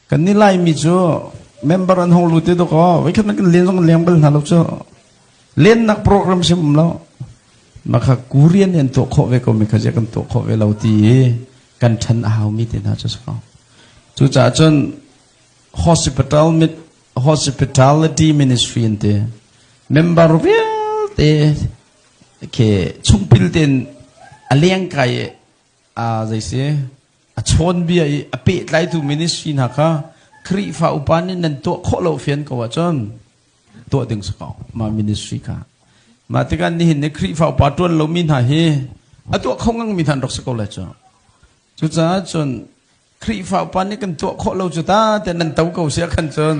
Kan ni laimi cu member an hong lut te duk aw. Veikhat man kan len zong leng bal hna lo cu. Lennak program sim um lo. Maka kurian ni an tuah khawh ve ko mi kha je kan tuah khawh ve lo ti i kan than a hau mi te hna cu saka. Cucaah cun hospital mit hospitality ministry in te member vialte ke chungpil ten a leng kai a zei si a chawnbia i a pehtlaitu ministry hna kha Khrihfa upa nih nan tuah khawh lo fian ko ahcun tuah ding si ko mah ministry kha mah tikah nihin ni Khrihfa upa ṭuan lomi hna hi a tuah kho ngang mi hna rak si ko lai cu cucaah cun Khrihfa upa nih kan tuah khawh lo cu ta te nan to ko sia khan cun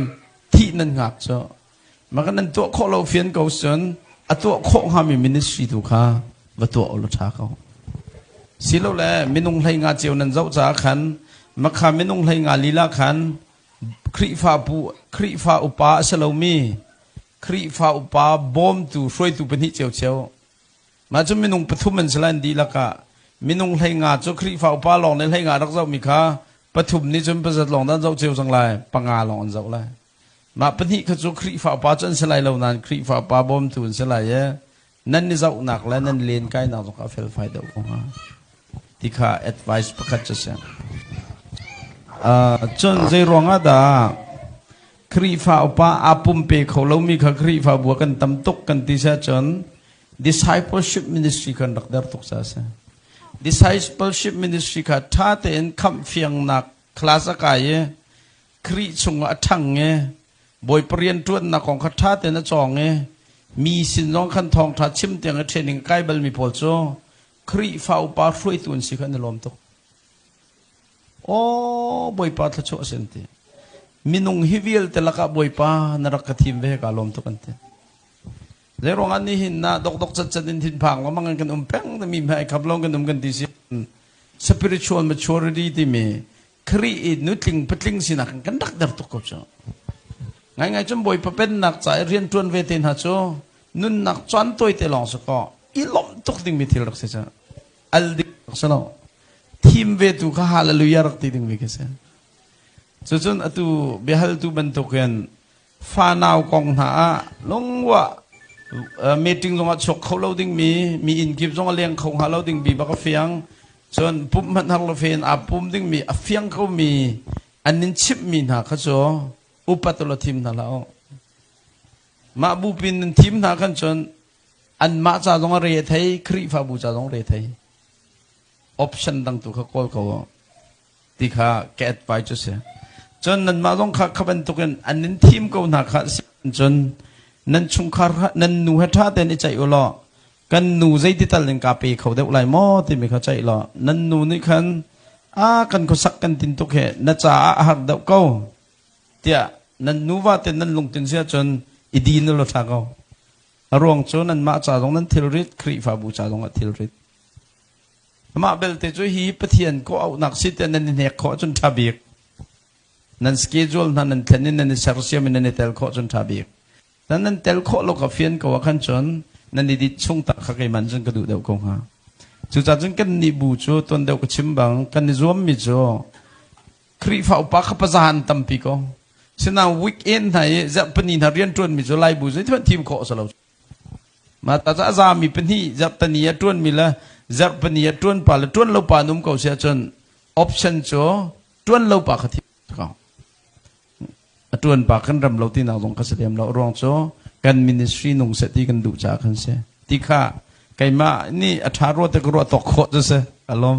thih nan ngak cu Mah kan nan tuah khawh lo fian ko cun a tuah khawh hngami ministry tu kha va tuah u law ṭha ko. Silole minung hlei nga ceu nan zoh caah khan makha minung hlei nga lila khan Khrihfa pu Khrihfa upa a si lomi Khrihfa upa bawmtu hruaitu pahnih ceu cheu mah cu minung pathum an si lai di lakah minung hlei nga cu Khrihfa upa lawng nih hlei nga rak zohmi kha pathum nih cun pasat lawng dan zoh cio cang lai panga lawng an zoh lai Mah pahnih kha cu Khrihfa upa cu an si lai lo nain Khrihfa upa bawmtu an si lai i nan i zohnak le nan len kainak zong kha a felfai deuh ko hnga ti kha advice pakhat cu a si. Uh, cun zei ruangah dah Khrihfa upa aa pumpe kho lomi kha Khrihfabu ah kan tam tuk kan ti seh cun discipleship ministry kan rak der tuk sa a si. Discipleship ministry kha ṭha tein khamh fiangnak class a kai i Khrih chungah a ṭhang i Bawipa rian ṭuannak kong kha ṭha tein a cawng i mi sin zong khan thawngṭha chim tiang i ṭhian ning kai balmi pawl cu Khrihfa upa hruaitu an si kha an i lawm tuk. Aw Bawipa thluachuah a si an ti. Minung hi vialte lakah Bawipa na rak ka thim ve kaa lawm tuk an ti. Zei ruangah ni hin na dokdok catcat in thinphang lo mangin kan um peng timi hmai khap lo kan um kan ti si. Spiritual maturity timi Khrih i nutling patling sinak in kan rak der tuk ko cu. Ngaingai cun Bawipa pennak ca i rianṭuan ve te hna cu nunnak caan tawite lawng su kaw i lawmh tuk dingmi thil rak si cu al dik rak si lo. Thim ve tu kha hallelujah rak ti dingmi khi si. Cucun atu biahaltu bantuk in fanau kong hna ah lungruah meeting zongah chuak kho lo dingmi mi inn kip zong a leng kho hnga lo dingmi bak a fiang cun pump hmanh har lo fen aa pum dingmi a fiang komi an nin chimhmi hna kha cu upat ula thim hna la u mah bupin nan thim hna kan cun an mah ca zong a re thei khrihfabu ca zong re thei option dang tu kha kawl ko u ti kha ka advice a si. Cun nanmah zong kha kha bantukin an in thim ko hna kha a si cun nan chungkhar nan nu he ṭha tein i ceih u law kan nu zeiti tal in kaa pe kho deuh lai maw timi kha ceih law nan nu nih khan a kan khuasak kan tin tuk hi na caah a har deuh ko tiah nan nuva te nan lungtin si cun i din u law ṭha ko a ruang cu nanmah ca zong nan thilrit Khrihfabu ca zong a thilrit Mah belte cu hi Pathian kawh auhnak si tiah nan i hnek khawh ahcun ṭha bik. Nan schedule hna nan thlen i nan i sersiam i nan i tel khawh cun ṭha bik. Na nan tel khawh lo kha fian ko ah khan cun nan i dit chung tak kha keiman cun ka duh deuh ko hnga. Cucaah cun kannih bu cu tuan deuh ka chim bang kan i zuammi cu Khrihfa upa kha paza an tampi ko. Sinain weekend hna i zarhpini hna rianṭuanmi cu Laibu zeithuan thim khawh a si lo. Mah taza a zami pahnih zarh pahnih a ṭuanmi le zarh pahnih a ṭuan pa le ṭuan lo pa an um ko siah cun option cu ṭuan lo pa kha thi ko. A ṭuan pa kan rem lo tinak zong ka si lem lo. Ruang cu kan ministry nung seh ti kan duh caah kan si. Ti kha keimah nih a ṭha rua te ka ruah tawk khawh cu si. Ka lawm.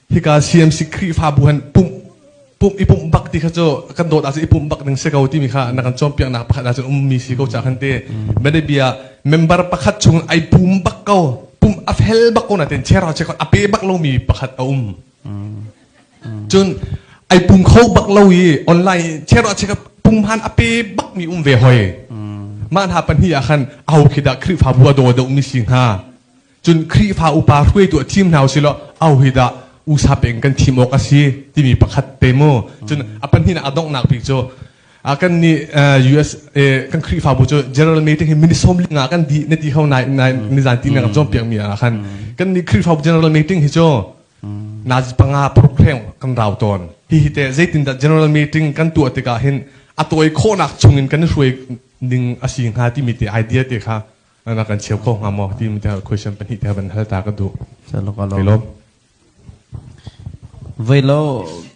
Hika CMC Khrihfabu han pumh pumh i pumh bak ti kha cu kan dawt ahcun i pumh bak ding si ko timi kha na kan cawnpiaknak pakhat ahcun ummi si ko cah kan ti. Medebia member pakhat chung ai pum bak ko pumh a fel bak ko na ten chera che ko a pe bak lomi pakhat a um. Cun ai pum kho bak lo i online chera che ka pum han a pe bak mi um ve hoi. Mah hna pan hi ah khan aho khi dah Khrihfabu a daw deuh mi si hnga. Cun Khrihfa upa hruaitu a thim hna u silaw ahohidah usa peng kan thim awk a si timi pakhat te mu. Cun a pahnih ah a donghnak bik cu kan nih USA kan Khrihfabu cu General Meeting hi minute sawm li nga kan di na ti ho nai nai nizan ti na kan cawn piakmi ah khan kan nih Khrihfabu General Meeting hi cu Nazi panga program kan rau tawn. Hihi te zeitindah General Meeting kan tuah tikah hin a tawi khawhnak chungin kan i hruai ning a si hnga timi te idea te kha Nana kan cheu kho hnga maw ti mi te question pahnih te van hal ta ka duh. Chalok alok. Lom. Velo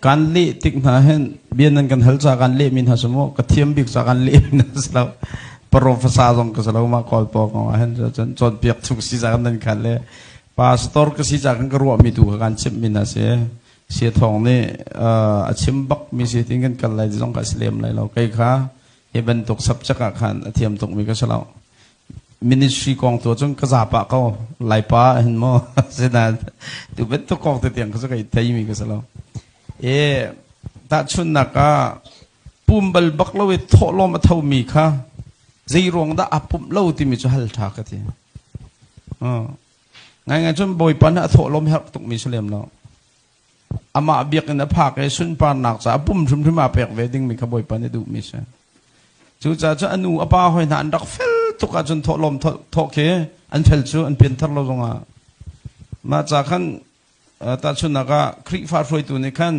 kan le tik hna hen bian nan kan hal cha kan le min ha sumo ka thiam bik cha kan le min ha slo professor zong ka slo ma call po ko hen chan chon piak thu si cha kan nan kan le pastor ka si cha kan ka ruwa mi tu ka kan chim min ha se se thong ne a chim bak mi se tin kan kal lai zong ka slem lai lo kai kha Hi bantuk subject ah khan a thiam tukmi ka si lo. Ministry kong tu cun ka zapa ko laipa hin maw sina tu bantuk kong te tiang ka su kai theimi ka si lo. E tahchunnak ah pumbal bak lo i thawhlawm a thomi kha zei ruang dah a pumh lo timi cu hal tha ka ti. Ngai ngai cun bawipa na a thawhlawm herh tukmi si lem lo. Amah biakinn a phak i sunparnak caah pum hrimhrim aa pek ve dingmi kha Bawipa nih duhmi si. Cucaah cu a nu a pa hoi hna an rak fel tuk ahcun thawhlawm thawk khi an fel cu an pianthar lo zongah. Mah ca khan tahchunhnak ah Khrihfa hruaitu nih khan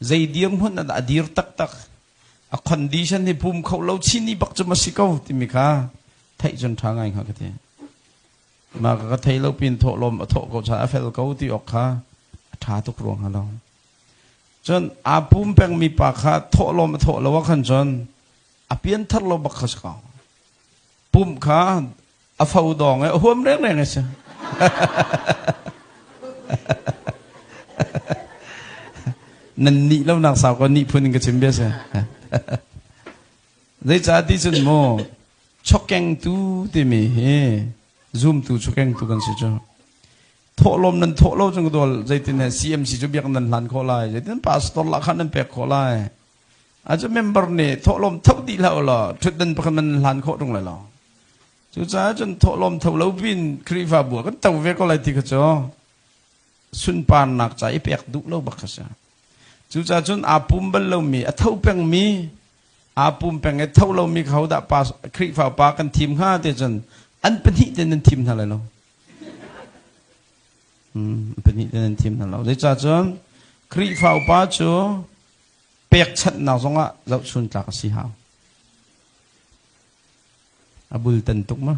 zei dirhmun a dir taktak a condition hi pum kho lo chini bak cu ma si ko timi kha theih cun ṭha ngai hnga ka ti. Mah ka thei lo pin thawhlawm a thawh ko caah a fel ko ti awk kha a ṭha tuk rua hnga lo. Cun aa pum pengmi pa kha thawhlawm a thawh lo ah khan cun a pianthar lo bak kha si ko. Pumh kha a fo dawng i a huam rengreng a si. nan nih lonak sau ko nih phun in ka chim bia si. Zeicah ti cun mu chawkengtu timi hi zumtu chawkengtu kan si cu thawhlawm nan thawh lo cun ka dawl zeitin he CMC cu biak nan hlan khawh lai zeitin pastor lah khan nan pek khawh lai acu member nih thawhlawm tho ti hlah law thut nan pakhat nan hlan khawh tung lai lo cucaah cun thawhlawm tho lo pin Khrihfabu kan to ve ko lai ti kha cu sunparnak ca i pek duh lo bak kha si Cucaah cun aa pum bal lomi, a tho pengmi, aa pum peng i tho lomi kha hodah pa Khrihfa pa kan thim hnga ti cun an pahnih ten nan thim hna lai lo. Hmm, pahnih ten nan thim hna lo. Zeicah cun Khrihfa upa cu pekchanhnak zongah zohchun tlak a si hau. A bultan tuk ma?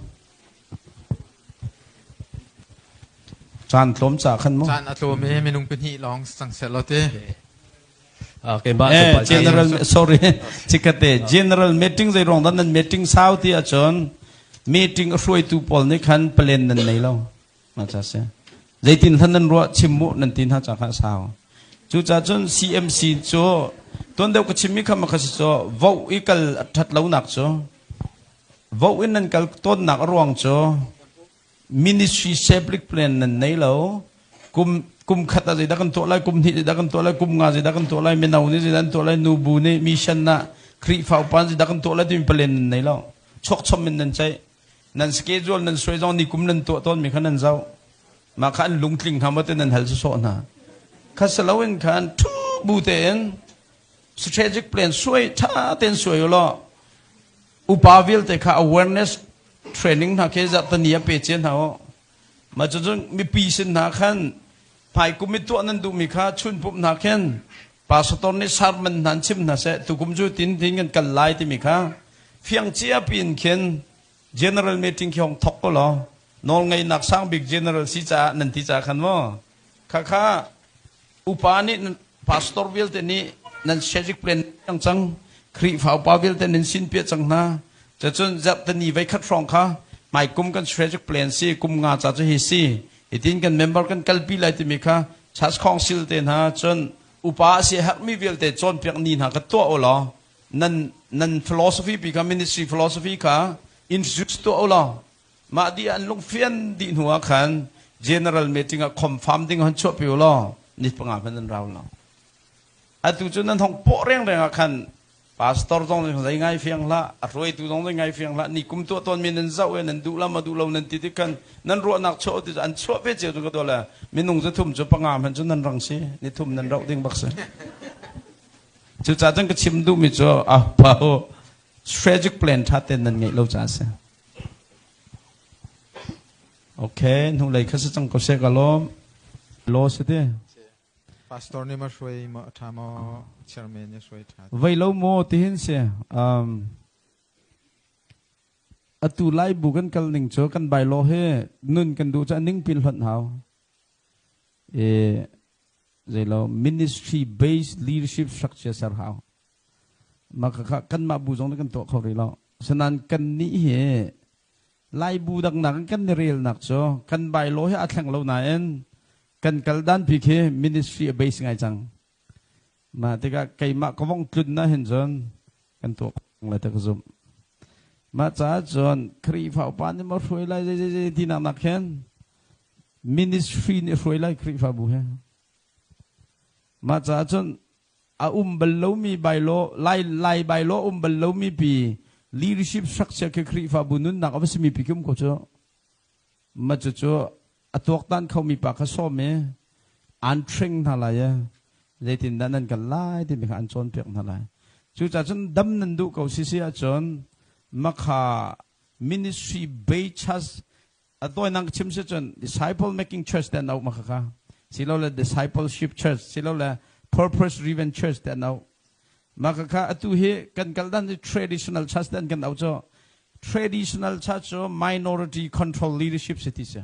Caan tlawm ca khan mu. Caan a tlawm i minung pahnih lawng sang set lo ti. Okay, ba Eh, general sorry chikkate general meeting zei rong dan nan meeting sau ti ahcun meeting a hruaitu pawl nih khan plan nan nei lo Ngacha si. Zeitin hlan nan ruah chim mu nan ti hna ca kha sau. Cucaah cun CMC cu tuan deuh ka chimmi kha makha si cu vo i kal ṭhat lonak cu vo in nan kal tawnnak a ruang cu ministry saplik plan nan nei lo kum kum khat ah zeidah kan tuah lai kum hnih zeidah kan tuah lai kum nga zeidah kan tuah lai mino nih zeidah kan tuah lai nu bu nih mission ah Khrihfa upa nih zeidah kan tuah lai timi plan nan nei lo chokchom in nan ceih nan schedule nan suai zong nikum nan tuah tawnmi kha nan zoh mah kha an lungtling hna maw nan hal sawh hna kha salo in khan thu bu tein strategic plan suai tha ten suai ulaw upa vialte kha awareness training hna ke zat tani a pe che hna u Mah cucun mipi sin hna khan hmaikum i tuah nan duhmi kha chunpumh hna khin pastor nih sermon hna in chim hna seh tukum cu tin tin kan kal lai timi kha fiang cia piin khin general meeting khi hong thawk ko law nawlngeihnak sang bik general si caah nan ti caah khan maw Khakha upa nih pastor vialte nih nan siasik plan cang cang Khrihfa upa vialte nan sin piah cang hna cacun zarhtani veikhat hrawng kha mai kum kan strategic plan si kum nga ca cu hi si hitin kan member kan kalpi lai timi kha church council te hna cun upa si herhmi vialte cawnpiak ni hna ka tuah u law nan nan philosophy pi kha ministry philosophy kha introduce tuah u law Mah dih ah an lungfian dih hnu ah khan general meeting ah confirm ding hon chuah pi u law ni panga hman an rau lo. Atu cu nan hong pawh rengreng ah khan pastor zong nih zei ngai fiang hlah, a hruaitu zong nih ngai fiang hlah, ni kum tuah tawn mi nan zoh e, nan duh la ma duh lo nan ti tik khan nan ruahnak chuah ti an chuah ve cio ka tuah le minung cu thum cu panga hman cu nan rang si, ni thum nan rauh ding bak si. Cu ca cang ka chim duh mi cu a pau strategic plan ṭha ten nan ngeih lo ca a si. Okay, hnulei kha si cang ko se ka lawm. Law si ti. Pastor ni ma hruai ma tha ma chairman ni hruai tha. Vai lo mo ti hin si. Um atu lai bu kan kal ning cho kan bai lo he nun kan du cha ning pin hlon hau. E zei lo ministry based leadership structure ser hau. Mah kha kanmah bu zong nih kan tuah kho rih lo. Sinain kannih hi Laibu daknak in kan i relnak cu kan bylaw hi aa thleng lo nain kan kal danpi khi ministry a base ngai cang. Mah tikah keimah ka vong tlun na hin cun kan tuah le ta ka zumh. Mah caah cun Khrihfa upa nih maw hruai lai zei ti nak nak hin ministry nih hruai lai Khrihfa bu he. Mah caah cun a um bal lomi bylaw lai lai bylaw um bal lomi pi leadership structure khi Khrihfabu nunnak a va simi pi kim ko cu ma cu cu a tuaktan khomi pa kha sawm i an tring hna lai i zeitin dah nan kan lai timi kha an cawnpiak hna lai cucaah cun dam nan duh ko sisi ahcun makha ministry bechas A tawinak chim si cun disciple making church te no ma kha silole discipleship church silole purpose driven church te no ma kha atu hi kan kal dan hi traditional church ten kan au cho traditional church cu minority control leadership si ti si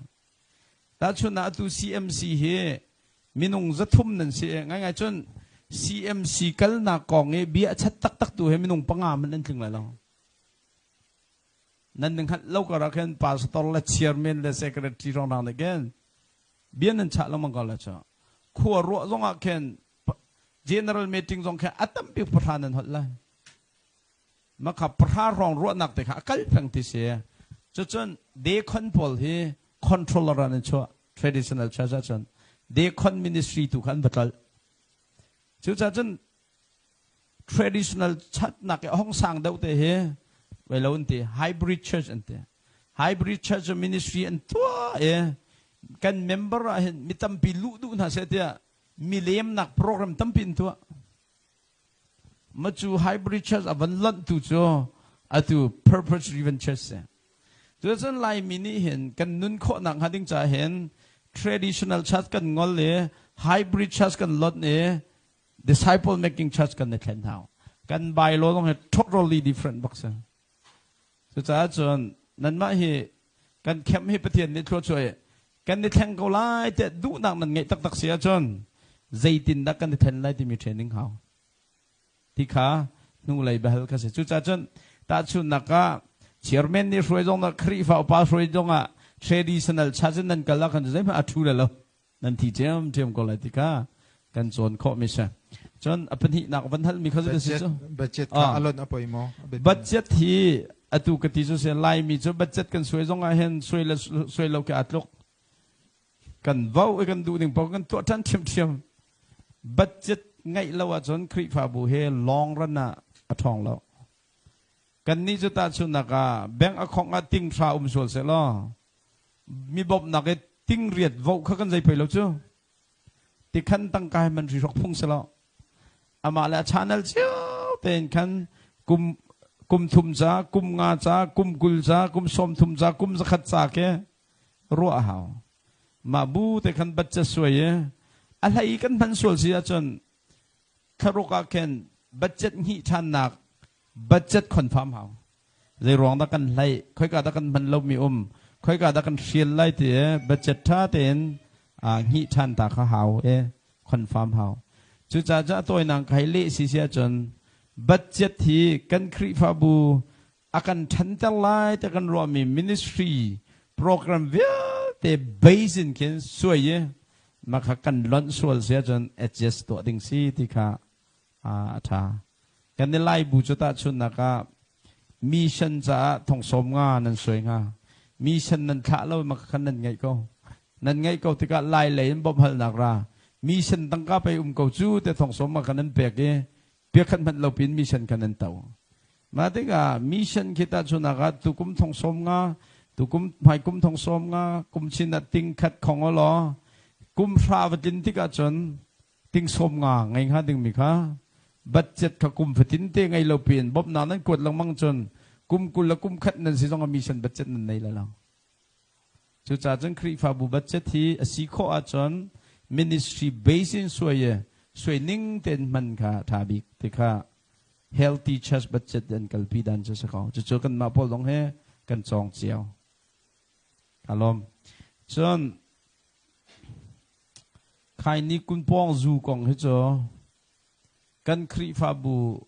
ta chun atu CMC hi minung zathum nan si ngai ngai chun CMC kalnak kong i bia a chat tak tak tu he minung panga man an tling lai lo nan na hngalh lo karah khin pastor le chairman le secretary rong rang again bia nan chah lengmang ko la cu khua ruah zong ah khin general meeting zong khin a tampi pahra nan holh lai makha pahra rong ruahnak te kha a kal peng ti si cucun decon pawl hi controller an chuah traditional church ahcun decon ministry tu khan va kal cucacun traditional chatnak i hong sang deuh te hi vai lo an ti hybrid church an ti hybrid church ministry an tua e kan member ah hin mi tampi lu duh hna se tiah milemnak program tampi in tua ma cu hybrid church a van lonh tu cu atu purpose driven church se tu cun laimi nih hin kan nun khawhnak hnga ding ca hin traditional church kan ngol i hybrid church kan lonh i Disciple making church kan i thlen hna. Kan bylaw zong hi totally different bak si. Cucaah cun nanmah hi kan camp hi Pathian nih thluachuah i kan i thleng ko lai tiah duhnak nan ngeih taktak si ahcun zeitindah kan i then lai timi training hau. Ti kha hnulei behal ka si. Cucaah cun tahchunhnak ah chairman nih hruai zong ah Khrihfa upa hruai zong ah traditional church in nan kal ah khan zeihmanh a thu le lo. nan thi ṭhiamṭhiam ko lai tikah kan cawn khawh mi si cun a pahnihnak van hal mi kha cu si cu budget kha alon a poi maw budget hi atu ka ti cu se laimi cu budget kan suai zong ah hen suai le suai lo ke atluk kan vau i kan duh ning pa kan tuah ṭhan ṭhiam ṭhiam budget ngaih lo ah cun Khrihfabu he long run ah a ṭhawng lo kan ni cu ta chunak ah bank akhong ah ting hra um sual se law mi bawmhnak i tingriat voh kha kan zei pei lo cu tikhan tangka he man ri hrok phung selaw amah le a channel cio tein khan kum kum thum ca kum nga ca kum kul ca kum sawm thum ca kum zakhat ca ke ruah a hau ma bu te khan bacca suai i a hlei kan hman sual si ahcun kharuk ah khin budget hni ṭhannak budget confirm hau Zeiruang dah kan hlai, khoika dah kan hman lomi um, khoika dah kan hrial lai ti e budget tha tein ah nghi than ta kha hau e confirm hau. Cucaah ca tawinak kai le si si ahcun budget hi kan Khrihfabu a kan thanter lai te kan ruahmi ministry program vialte base in khin suai i makha kan lonh sual si ahcun adjust tuah ding si ti kha a ṭha. Kan i lai bu cu tahchunhnak ah mission caah thongsawm nga nan suai hnga. Mission nan thlah lo maka khan nan ngaih ko. Nan ngaih ko tikah lai lei in bawmhalnak ra. Mission tangka pei um ko cu te thongsawm ma kha nan pek i piakhat hmanh lopin mission kha nan to. Ma tikah mission khi tahchunhnak ah tukum thongsawm nga tukum hmaikum thongsawm nga kum chin ah ting khat khong o law kum hra va tlin tik ahcun tingsawm nga ngei hnga dingmi kha budget kha kum fatin te ngei lo piin bawmhnak nan kuat lengmang cun kum kul le kum khat nan si zong a mission budget nan nei lalang cucaah cun Khrihfabu budget hi a si khawh ahcun ministry base in suai suai ning ten man kha tha bik te kha healthy church budget an kalpi dan cu sa ko cucu kan mah pawl dong he kan cong cio alom cun Khai ni kun pawng zu kong hi cu kan Khrihfabu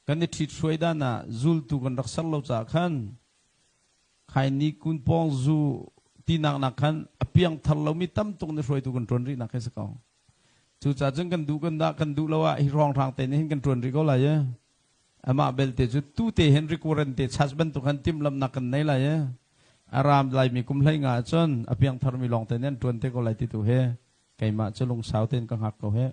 kan i ṭhit hruai dan ah zultu kan rak ser lo caah khan khai ni kun pawng zu tinak nak khan a piangthar lomi tam tuk nih hruaitu kan ṭuan rihnak hi si ko. Cucaah cun kan duh kan dah kan duh lo ah hi ruanghrang te nih hin kan ṭuan rih ko lai ee. Amah belte cu tute Henry Curran te church bantuk khan timhlamhnak kan nei lai i a ram laimi kum hlei nga ah cun a piangtharmi lawng tein an ṭuan te ko lai ti tu hi keimah cu lungsau tein ka hngak ko hih.